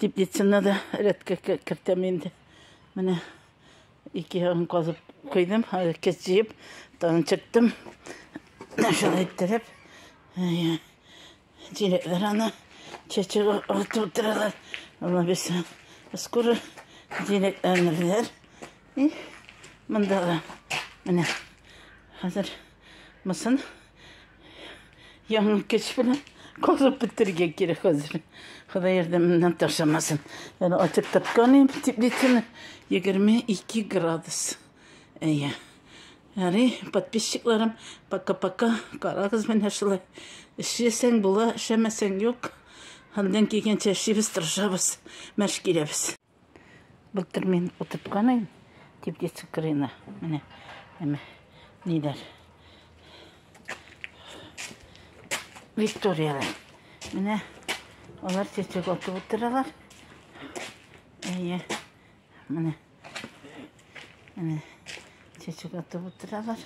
Теплицаны да рәткә кертәм инде. Менә ике ягын казып куйдым, кез җыеп, тагын чыктым. Шулай иттереп, җиләкләр аны чәчәк атып утыралар. Ана без скоро җиләкләрне беләр. И монда менә хәзер мысын Яңа көч белән казып бетерергә кирәк хәзер. Ходай ярдәменнән ташламасын. Әле ачып тапкан идем теплицаны. 22 градус. Әйе. Әле подписчикларым, пока-пока, карагыз менә шулай. Эшләсәң була, эшләмәсәң юк. Хәлдән килгәнчә эшлибез, тырышабыз, мәш киләбез. Былтыр мин утырткан идем теплица кырыена. Менә әмә ниләр. Викторияләр. Менә алар чәчәк атып утыралар. Әйе. Менә. Менә чәчәк атып утыралар.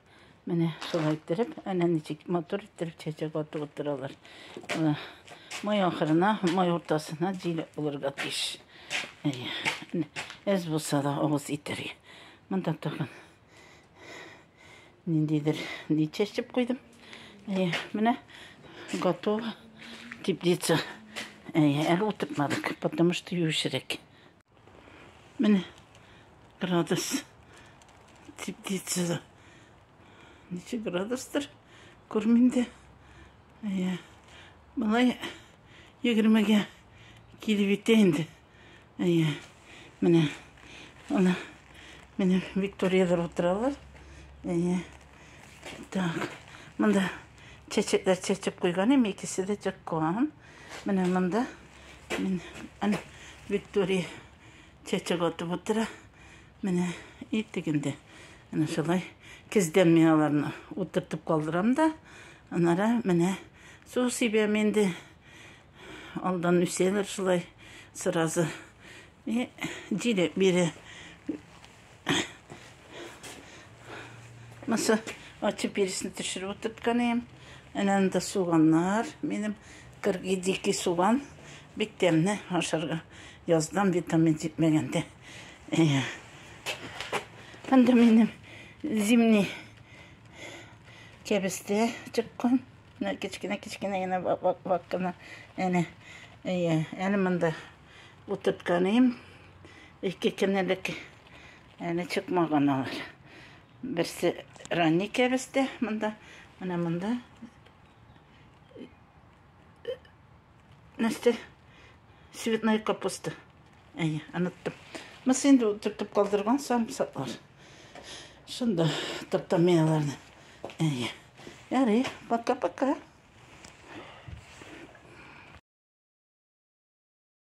Менә шулай иттереп, әнә ничек матур иттереп чәчәк атып утыралар. Менә май ахырына, май уртасына җил булырга тиеш. Әз булса да авыз итәргә. Монда тагын ниндидер ни чәчеп куйдым. Әйе, менә готово теплица. Әйе, әле утыртмадык, потому что юешрәк. Менә градус теплицада. Ничек градустыр, күрмим дә. Әйе. Былай егермегә килеп итә инде. Әйе. Менә. Ана. Менә Викториядә утыралар. Әйе. Так. Монда чәчәкләр чәчеп куйган, икесе дә чыккан. Менә монда. Менә. Мин аны Виктория чәчәк атып утыра. Менә иттек инде. Әнә шулай көздән мин аларны утыртып калдырам да, анара менә су сибәм инде. Алдан үсәләр шулай сразу. И җиле бире Маса ачы пересне төшереп утыртканым. Әнә анда суганнар. Минем кыргый дикий суган. Бик тәмне ашарга. Яздан витамин җитмәгәндә. Анда минем зимний кәбестә чыккан. Менә кечкенә-кечкенә генә вак кына. Әнә. Әнә монда Утыртканым, ике кенелек әле чыкмаган алар. Берсе ранний кәбестә монда, менә монда. Нәрсә? Цветная капуста. Әйе, оныттым. Мыс инде утыртып калдырган самсаклар. Шунда таптамияларны. Әйе. Ярый, пока-пока.